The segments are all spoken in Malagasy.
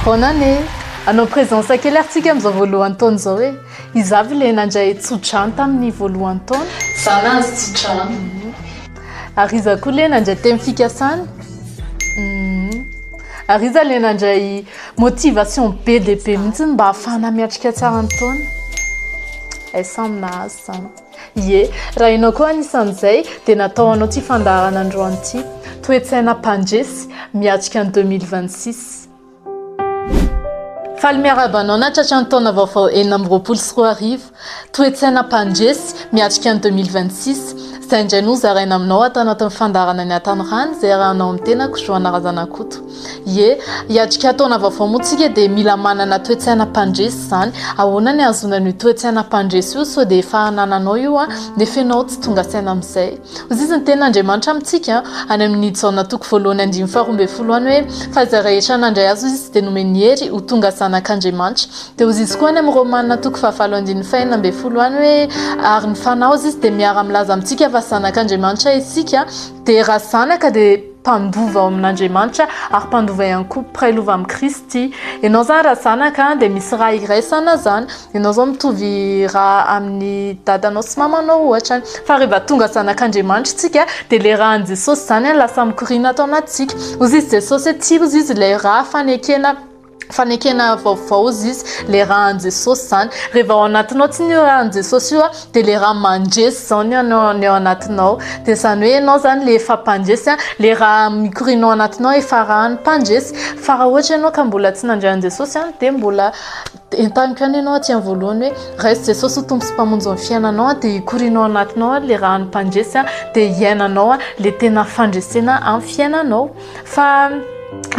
Bonne année! Hanao presence kely ary tsika amin'izao voalohan'ny taona izao e! Izaho ve le nandray tso-drano tamin'ny voalohan'ny taona? Izaho nahazo tso-drano. Ary iza koa le nandray teny fikasana? Ary iza le nandray motivation be dia be mihitsy mba hahafahana miatrika tsara ny taona? Hay samy nahazo izany. Ie, raha ianao koa anisan'izay dia natao ho anao ity fandaharana androany ity. Toe-tsaina mpandresy, miatrika ny deux mille vingt six. Faly miarahaba anao nahatratra ny taona vaovao enina amby roapolo sy roa arivo. Toe-tsaina mpandresy, miatrika ny deux mille vingt six. Izay indray no hozaraina aminao ato anatin'ny fandaharana ny Hatanorano izay arahanao amin'ny tenako Joana Razanakoto. Ie, hiatrika taona vaovao moa tsika dia mila manana toe-tsaina mpandresy izany. Ahoana ny ahazoana an'io toe-tsaina mpandresy io sao dia efa anananao io nefa ianao tsy tonga saina amin'izay? Hoy izy ny tenin'Andriamanitra amintsika any amin'ny Jaona toko voalohany andininy faharoa ambin'ny folo any hoe, Fa izay rehetra nandray Azy hoy Izy dia nomeny hery ho tonga zanak'Andriamanitra. Dia hoy izy koa any amin'ny Romana toko fahavalo andininy fahenina ambin'ny folo any hoe, Ary ny Fanahy hoy Izy dia miara-milaza amintsika fa zanak'Andriamanitra isika, dia raha zanaka dia. mpandova ao amin'Andriamanitra ary mpandova ihany koa mpiray lova amin'i Kristy. Ianao izany raha zanaka dia misy ra iraisana izany. Ianao izao mitovy ra amin'ny dadanao sy mamanao ohatra. Fa rehefa tonga zanak'Andriamanitra isika dia ilay ra an'i Jesosy izany no lasa mikoriana ato anatintsika. Hoy izy Jesosy hoe tsy hozy izy ilay ra fanekena. fanekena vaovao izy izy le rahan'i Jesosy zany rehefa ao anatinao tsy ny rahan'i Jesosy io dia le raha mandresy zao ny anao ny ao anatinao dia zany hoe ianao zany le efa mpandresy le raha mikorinao anatinao efa rahan'ny mpandresy fa raha ohatra ianao ka mbola tsy nandray an'i Jesosy any dia mbola entaniko ihany ianao aty amin'ny voalohany hoe raiso Jesosy ho tompo sy mpamonjy ny fiainanao dia hikorinao anatinao le rahan'ny mpandresy dia hiainanao le tena fandresena amin'ny fiainanao fa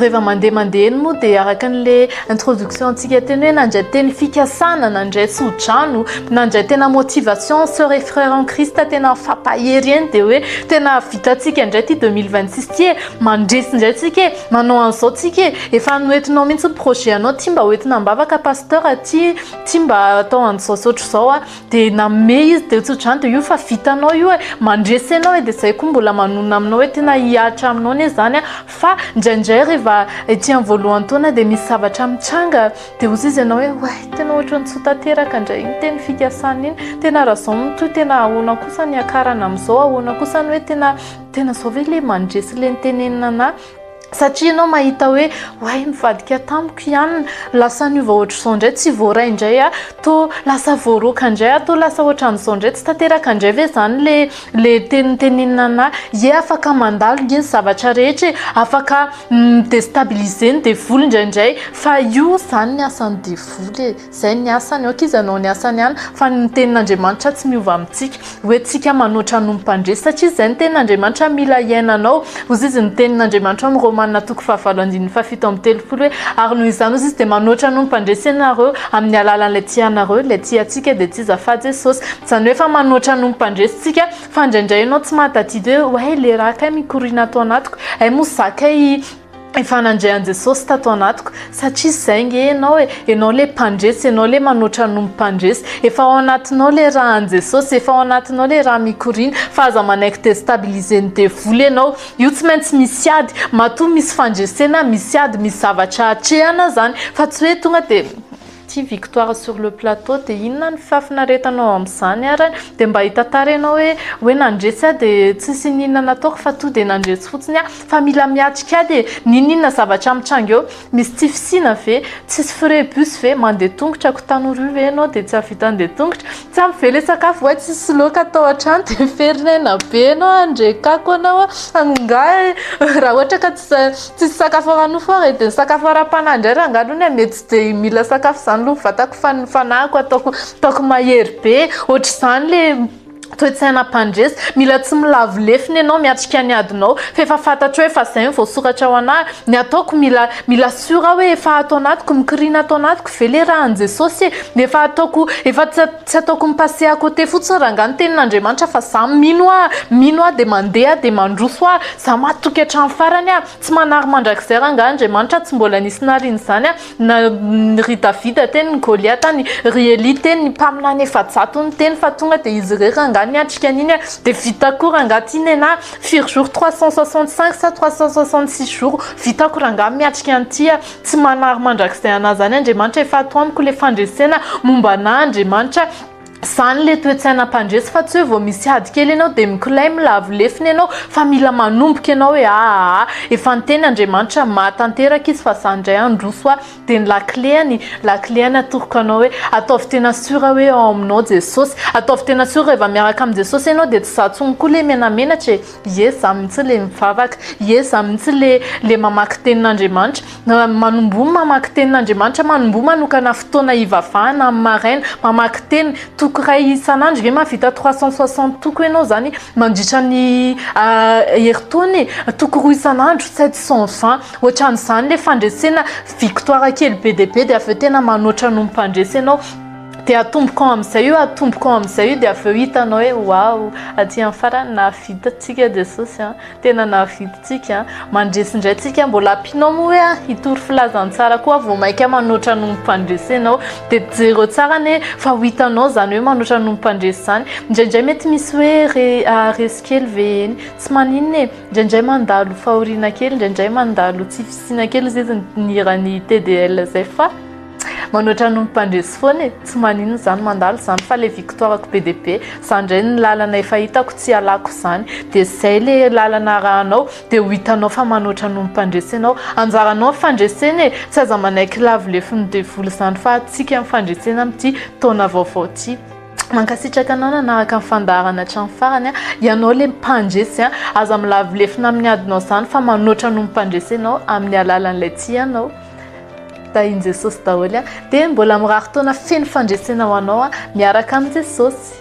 reva mandeha mandeha eny moa dia araka an'le introduction antsika teny hoe nandray teny fikasana nandray tsodrano nandray tena motivation soeur et frère en christ tena fampahery eny dia hoe tena vitantsika indray ty 2026 ty e mandresy indray tsika e manao an'izao tsika e efa noentinao mihitsy ny projet anao ty mba hoentina am-bavaka pasteur ty ty mba atao an'izao zao ohatr'izao a de nanome izy teo tsodrano de io fa vitanao io e mandresy anao e de zay koa mbola manonona aminao hoe tena hihatra aminao anie zany a fa ndraindray rehefa ety amin'ny voalohany taona de misy zavatra mitranga de hozy izy ianao hoe way tena ohatran'ny tsy ho tanteraka ndray iny teny fikasana iny tena raha zao mitohy tena ahoana kosa ny hiakarana amin'izao ahoana kosa ny hoe tena tena zao ve le mandresy le nitenenina anah Satria ianao mahita hoe oay nivadika tamiko i Anna, lasa niova ohatr'izao indray, tsy voaray indray aho, toa lasa voaroaka indray aho, toa lasa ohatran'izao indray, tsy tanteraka indray ve izany ilay ilay teny notenenin'i Anna? Ie afaka mandalo nge ny zavatra rehetra e! Afaka mi-destabiliser ny devoly indraindray fa io izany ny asan'ny devoly e! Izay ny asany, ok izy hanao ny asany ihany, fa ny tenin'Andriamanitra tsy miova amintsika. Ho entintsika manoatra noho ny mpandresy, satria izay ny tenin'Andriamanitra mila hiainanao. Hoy izy ny tenin'Andriamanitra ao amin'ny Romana toko fahavalo andininy fahafito amby telopolo hoe, Ary noho izany, hoy izy, dia manoatra noho ny mpandresy ianareo, amin'ny alalan'ilay tia anareo, ilay tia antsika dia tsy iza fa Jesosy. Izany hoe efa manoatra noho ny mpandresy tsika, fa indraindray ianao tsy mahatadidy hoe, oay, le rà kay mikoriana ato anatiko, hay moa za kay, Efa nandre an'i Jesosy tato anatiko, satria izay nge ianao e, ianao ilay mpandresy, ianao ilay manoatra noho ny mpandresy, efa ao anatinao ilay ra an'i Jesosy, efa ao anatinao ilay ra mikoriana, fa aza manaiky destabiliser ny devoly ianao, io tsy maintsy misy ady, matoa misy fandresena, misy ady, misy zavatra atrehana izany, fa tsy hoe tonga dia Ty victoire sur le plateau de inona ny fahafinaretanao amzany ary de mba hitantara ianao hoe hoe nandresy aho de tsisy ininona nataoko fa to de nandresy fotsiny aho fa mila miatrika ahy de nininona zavatra mitranga eo misy tsy fisiana ve tsisy frais bus ve mandeha tongotra ko tanora io ve ianao de tsy ahavita andeha tongotra Tsam ve le sakafo way tsisy loaka atao hatrany de miferinaina be enao handrekako anao angaha e raha ohatra ka tsisy tsisy sakafo ara nofo ary de ny sakafo ara panahy ndray rangah aloha anie mety tsy de mila sakafo zany aloha ny vatako fa ny fanahiko ataoko ataoko mahery be ohatr'izany le toe tsaina mpandresy mila tsy milavo lefona enao miatrika ny adinao f'efa fantatro hoe fa zay no voasoratra ho anahy ny ataoko mila Mila sûr aho hoe efa ato anatiko, mikiriana ato anatiko ve le rà an'i Jesosy e? Efa ataoko, efa tsy tsy ataoko mi-passer à côté fotsiny rangah ny tenin'Andriamanitra fa za mino ah, mino ah de mandeha de mandroso ah, za matoky hatramin'ny farany ah, tsy manary mandrakizay rangah Andriamanitra, tsy mbola nisy nariana izany ah, na ry Davida teny ny Goliata any, ry Elia teny ny mpaminany efa-jato niteny fa tonga de izy irery rangah niatrika an'iny ah, de vita koa rangah ty nenah, Firy jours trois cent soixante cinq sa trois cent soixante six jours vitako rangah miatrika an'ity ah tsy manary mandrakizay anah zany Andriamanitra efa ato amiko le fandresena momba anah Andriamanitra zany le toetsaina mpandresy fa tsy hoe vao misy ady kely ianao de mikolay milavo lefona ianao fa mila manomboka ianao e aahh efa niteny Andriamanitra mahatanteraka izy fa za ndray handroso ah dia ny lakileny, lakileny atoroko anao hoe ataovy tena sur hoe ao aminao Jesosy, ataovy tena sur rehefa miaraka amin'i Jesosy ianao dia tsy izaho intsony koa ilay menamenatra e, ie izaho mihitsy ilay mivavaka, ie izaho mihitsy ilay ilay mamaky tenin'Andriamanitra, manomboha ny mamaky tenin'Andriamanitra, manomboha manokana fotoana hivavahana amin'ny maraina, mamaky teny, toko iray isan'andro, ve mahavita trois cent soixante toko ianao izany mandritra ny herintaona e, toko roa isan'andro, sept cent vingt. Ohatran'izany le fandresena victoire kely be dia be dia avy eo tena manoatra noho ny mpandresy ianao dia atombokao amin'izay io atombokao amin'izay io dia avy eo hitanao hoe wao aty amin'ny farany nahavita antsika Jesosy an tena nahavita antsika an mandresy indray antsika mbola ampianao moa hoe hitory filazantsara koa vao mainka manoatra noho ny mpandresy ianao dia jereo tsara anie fa ho hitanao izany hoe manoatra noho ny mpandresy izany indraindray mety misy hoe re, ah, resy kely ve eny tsy maninona e Indraindray mandalo fahoriana kely, indraindray mandalo tsy fisiana kely izay izy nihiran'ny TDL izay fa manoatra ny mpandresy foana e, tsy maninona izany mandalo izany fa ilay victoire-ko be dia be, izany indray ny lalana efa hitako tsy ialako izany, dia izay ilay lalana arahanao dia ho hitanao fa manoatra ny mpandresy ianao, anjaranao ny fandresena e, tsy aza manaiky lavo lefin'ny devoly izany fa antsika ny fandresena amin'ity taona vaovao ity. Mankasitraka anao nanaraka ny fandaharana hatramin'ny farany a! Ianao ilay mpandresy a! Aza milavo lefona amin'ny adinao izany fa manoatra noho ny mpandresy ianao amin'ny alalan'ilay tianao. Tahin'i Jesosy daholo a! Dia mbola mirary taona feno fandresena ho anao a! Miaraka amin'i Jesosy.